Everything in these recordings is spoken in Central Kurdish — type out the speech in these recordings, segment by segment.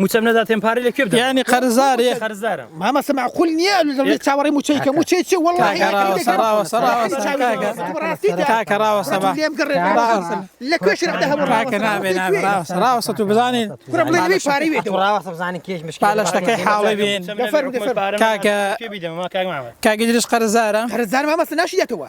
موچەم نەداتێن پارەی لە کوێ بدەم یانی قەرزارێ قەرزارە مامە سە معقول نییە لەڕێی چاوەڕی موچەی کە موچەی چی وەڵڵاهی لە کوێش ڕاوەسە تو بزانین بزانین کێش لە شتەکەی حاڵی بین کاگە کاگەدرش قەرزارە قەرزار مامەسە ناشیەتەوە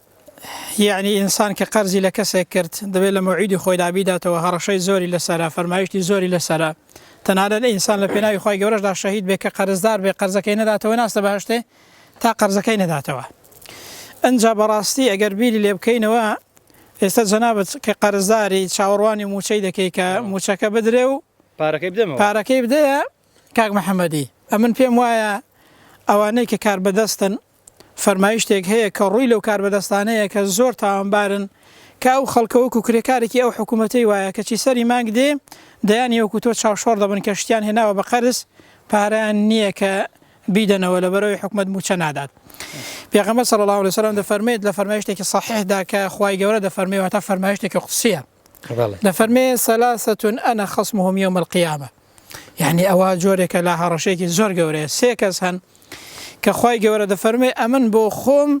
یەعنی ئینسان کە قەرزی لە کەسێک کرد دەبێت لە مەوعیدی خۆیدا بیداتەوە هەڕەشەی زۆری لەسەرە فەرمایشتی زۆری لەسەرە تەنانەت ئینسان لە پێناوی خی گەورەشدا شەهید بێ کە قەرزدار بێ قەرزەکەی نەداتەوە ناستە بەهشتێ تا قەرزەکەی نەداتەوە ئەجا بەڕاستی ئەگەر بیری لێ بکەینەوە ئێستا جەنابەت کە قەرزداری چاوەڕوانی موچەی دەکەی کە موچەکە بدرێ و پارەکەی بدەمەوە پارەکەی بدەیە کاک محەممەدی ئەمن پێم وایە ئەوانەی کە کار بەدەستن فەرمایشتێک هەیە کە ڕووی لەو کاربەدەستانەیە کە زۆر تاوانبارن کە ئەو خەڵکە وەکو کرێکارێکی ئەو حکومەتەی وایە کەچی سەری مانگ دێ دەیانی وەکو تۆ چاوشۆڕ دەبن کە شتیان هێناوە بە قەرز پارەیان نییە کە بیدەنەوە لەبەرەوەی حکومەت موچە نادات پێغەمبەر صلی الله علیه وسلم دەفەرمێت لە فەرمایشتێکی صحیحدا کە خوای گەورە دەفەرمێ واتا فەرمایشتێکی قودسیە دەفەرمێ سەلاستون انا خصمهم یوم القیامە یانی ئەوە جۆرێکە لە هەڕەشەیەکی زۆر گەورەیە سێ کەس هەن کە خی گەورە دەفەرمێ ئەمن بۆ خۆم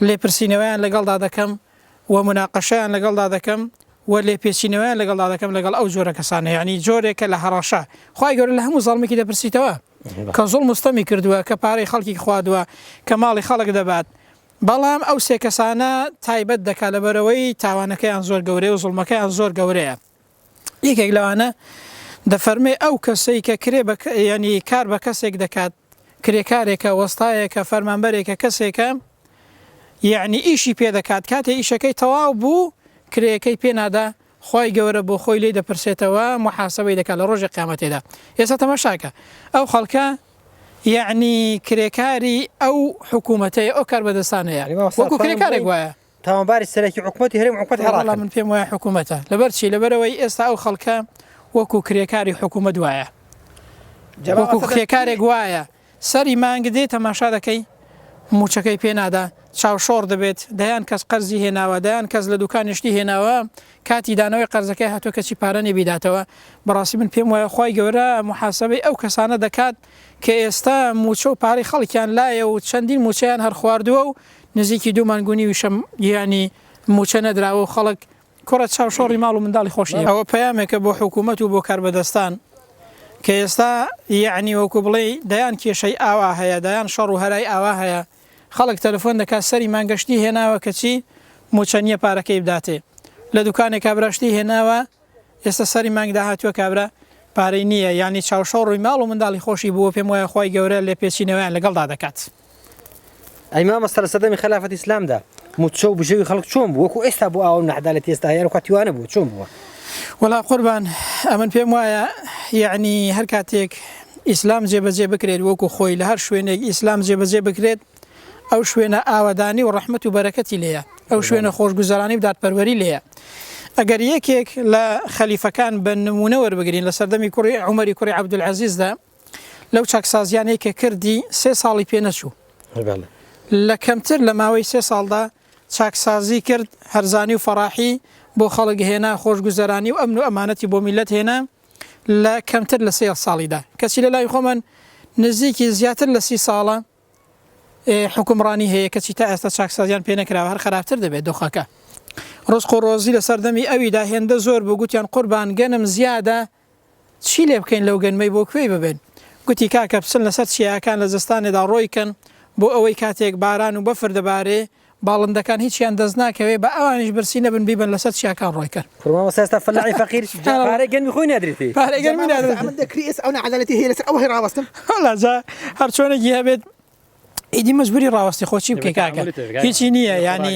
لێپرسینەوەیان لەگەڵدا دەکەم و مناقەشیان لەگەڵدا دەکەم و لێ پێچینەوەیان لەگەڵدا دەکەم لەگەڵ ئەو جۆرە کەسانە یعنی جۆرێکە لە هەڕەشە خی گەور لە هەموو زەڵمێکی دەپرسیتەوە کە زۆڵ مستەمی کردووە کە پارەی خەڵکی خوادووە کە ماڵی خەڵک دەبات بەڵام ئەو سێ کەسانە تایبەت دەکات لەبەرەوەی تاوانەکەیان زۆر گەورەیە و زڵمەکەیان زۆر گەورەیە یەکێک لەوانە دەفەرمێ ئەو کەسەی کە کرێ بە یعنی کار بە کەسێک دەکات کرێکارێکە وەستایەکە فەرمانبەرێکە کەسێکە یعنی ئیشی پێ دەکات کاتێ ئیشەکەی تەواو بوو کرێەکەی پێنادا خی گەورە بۆ خۆی لی دەپرسێتەوە محاسبەی دەکات لە ڕۆژی قامەتێدا ئێستا تەمەشاکە ئەو خەڵکە یعنی کرێکاری ئەو حکوومەتەیە ئەو کار بەدەستانەیە وەکو کرێکارێک وایە تاوانباری سەرەکی حکومەتی هەرێم عوقبەت هەڕاکەن. وەڵا من پێم وایە حکومەتە لەبەر چی لەبەرەوەی ئێستا ئەو خەڵکە وەکو کرێکاری حکومەت وایە وەکو کرێکارێک وایە سەری مانگ دێ تەماشا دەکەی موچەکەی پێ نادا چاوشۆڕ دەبێت دەیان کەس قەرزی هێناوە دەیان کەس لە دوکانی شتی هێناوە کاتی دانەوەی قەرزەکەی هاتووە کەچی پارە نەبیداتەوە بەڕاستی من پێم وایە خی گەورە محاسبەی ئەو کەسانە دەکات کە ئێستا موچە و پارەی خەڵکیان لایە و چەندین موچەیان هەر خواردووە و نزیکی دوو مانگ و نیویشە گیانی مووچە نەدراوە و خەڵک کوڕە چاوشۆڕی ماڵ و منداڵی خۆش نییە. ئەوە پەیامێکە بۆ حکوومەت و بۆ کاربەدەستان کە ئێستا یەعنی وەکوو بڵێی دەیان کێشەی ئاوا هەیە، دەیان شەڕ و هەرای ئاوا هەیە، خەڵک تەلەفۆن دەکات سەری مانگە شتی هێناوە کەچی مووچە نییە پارەکەی بداتێ، لە دوکانێکا برا شتی هێناوە ئێستا سەری مانگ داهاتوە کابرا پارەی نیە یانی چاوشۆ ڕوی ماڵ و منداڵی خۆشی بوە پێم وایە خوای گەورە لێ پێچینەوەیان لەگەڵدا دەکات. ئەی مامۆستا لە سەردەمی خەلافەتی ئیسلامدا موچە و بژێوی خەڵک چۆن بوو وەکو ئێستا بوو ئاوا و نەعەدالەتی ئێستا هەیە ئەوکاتی وا نەبوو چۆن بووە؟ وەڵا قوربان ئەمن پێم وایە یەعنی هەر کاتێک ئیسلام جێبەجێ بکرێت وەکو خۆی لە هەر شوێنێک ئیسلام جێبەجێ بکرێت ئەو شوێنە ئاوەدانی و ڕەحمەت و بەرەکەتی لێیە، ئەو شوێنە خۆشگوزەرانی و دادپەروەری لێیە. ئەگەر یەکێک لە خەلیفەکان بە نموونە وەربگرین لە سەردەمی کوڕی عومەری کوڕی عەبدولعەزیزدا لەو چاکسازیانەی کە کردی سێ ساڵی پێ نەچوو. لە کەمتر لە ماوەی سێ ساڵدا چاکسازی کرد، هەرزانی و فەڕاحی بۆ خەڵک هێنا، خۆشگوزەرانی و ئەمن و ئەمانەتی بۆ میللەت هێنا لە کەمتر لە سێ ساڵیدا. کەچی لە لای خۆمان نزیکی زیاتر لە سی ساڵە حوکمڕانی هەیە کەچی تا ئێستا چاکسازیان پێ نەکراوە هەر خراپتر دەبێت دۆخەکە ڕزق و ڕۆزی لە سەردەمی ئەویدا هێندە زۆر بوو گوتیان قوربان گەنم زیادە چی لێ بکەین لەو گەنمەی بۆ کوێی ببێن گوتی کاکە بچن لەسەر چیاکان لە زستانێدا ڕۆیکەن بۆ ئەوەی کاتێک باران و بەفر دەبارێ باڵندەکان هیچیان دەست ناکەوێ با ئەوانیش برسی نەبن بیبەن لەسەر چیاکان ڕۆی کەن. قور مامۆستا ئێستا فەلاحی فەقیر جا پارەی گەنمی خۆی نادریتی. پارەی گەنمی نادریتی. جا مامۆستا ئەمن دەکری ئێستا ئەو ناعەدالەتی هەیە لەسەر ئەوە هەی ڕاوەستم. وەلا جا هەر چۆنێکی هەبێت ئیدی مەجبوری ڕاوەستی خۆ چی بکەی کاکە هیچی نییە یانی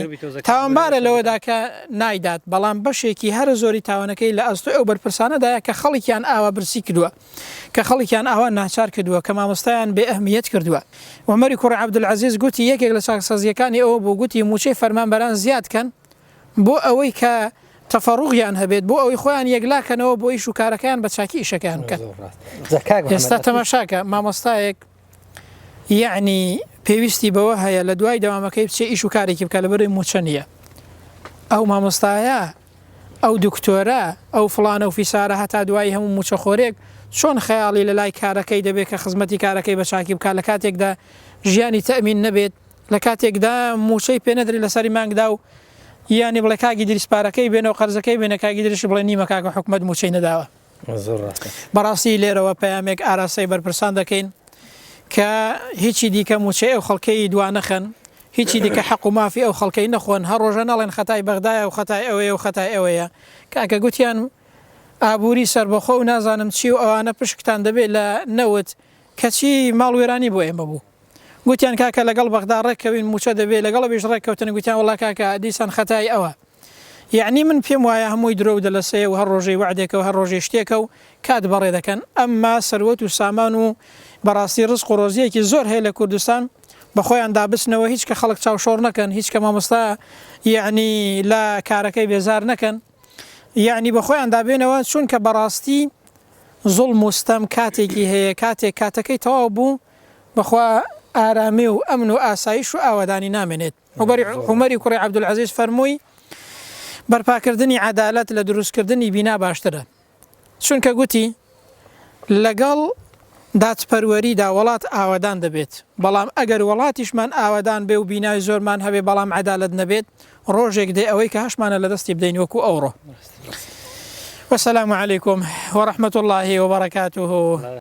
تاوانبارە لەوەدا کە نایدات بەڵام بەشێکی هەرە زۆری تاوانەکەی لە ئەستۆی ئەو بەرپرسانەدایە کە خەڵکیان ئاوا برسی کردوە. کە خەڵکیان ئاوا ناچار کردووە، کە مامۆستایان بێ ئەهمییەت کردووە. عومەری کوڕی عەبدولعەزیز گوتی، یەکێک لە چاکسازییەکانی ئەوە بوو، گوتی، مووچەی فەرمانبەران زیاد کەن، بۆ ئەوەی کە تەفەڕوغیان هەبێت، بۆ ئەوەی خۆیان یەکلا کەنەوە بۆ ئیش و کارەکەیان بە چاکی ئیشەکەیان بکەن. ئێستا تەماشاکە، مامۆستایەک، یەعنی پێویستی بەوە هەیە لە دوای دەوامەکەی بچێ ئیش و کارێکی بکە لەبەروی موچە نیە ئەو مامۆستایە ئەو دکتۆرە ئەو فڵانە و فیسارە هەتا دوایی هەموو موچە خۆرێک چۆن خەیاڵی لە لای کارەکەی دەبێت کە خزمەتی کارەکەی بە چاکی بکە لە کاتێکدا ژیانی تەمین نەبێت لە کاتێکدا موچەی پێ نەدرێت لەسەری مانگدا و یانی بڵێ کاگی دریس پارەکەی بێنەوە قەرزەکەی بێنە کاگی دریش بڵێ نیمە کاکە حکومەت موچەی نەداوە زۆر ڕاستە. بەڕاستی لێرەوە پەیامێک ئاراستەی بەرپرسان دەکەین کە هیچی دیکە مووچەی ئەو خەڵکەی دوا نەخەن، هیچی دیکە حەق و مافی ئەو خەڵکەی نەخۆن، هەر ڕۆژە نەڵێن خەتای بەغدایە و خەتای ئەوەیە و خەتای ئەوەیە. کاکە گوتیان ئابووری سەربەخۆ و نازانم چی و ئەوانە پشکتان دەبێ لە نەوت، کەچی ماڵ وێرانی بۆ ئێمە بوو گوتیان کاکە لەگەڵ بەغدا ڕێککەوین موچە دەبێ لەگەڵ ئەویش ڕێککەوتن گوتیان وەڵا کاکە دیسان خەتای ئەوە یەعنی من پێم وایە هەمووی درۆ و دەلەسەیە و هەر ڕۆژەی وەعدێکە و هەر ڕۆژەی شتێکە و کات بەڕێ دەکەن ئەمما سەروەت و سامان و بەڕاستی ڕزق و ڕۆزییەکی زۆر هەیە لە کوردستان بە خۆیاندا بچنەوە هیچ کە خەڵک چاو شۆڕ نەکەن هیچ کە مامۆستا یەعنی لە کارەکەی بێزار نەکەن. یەعنی بەخۆیان دابێنەوە چونکە بەڕاستی زوڵم و ستەم کاتێکی هەیە کاتێک کاتەکەی تەواو بوو بەخوا ئارامی و ئەمن و ئاسایش و ئاوەدانی نامێنێت عوبەری عومەری کوڕی عبدالعزیز فەرمووی بەرپاکردنی عەدالەت لە دروستکردنی بینا باشترە. چونکە گوتی، لەگەڵ دادپەروەریدا وەڵات ئاوەدان دەبێت، بەڵام ئەگەر وەڵاتیشمان ئاوەدان بێ و بینای زۆرمان هەبێ بەڵام عەدالەت نەبێت، ڕۆژێک دێ ئەوەی کە هەشمانە لەدەستی بدەین وەکو ئەوڕۆ. وسلام علیکم وەرحمەت اللە وبرکاته.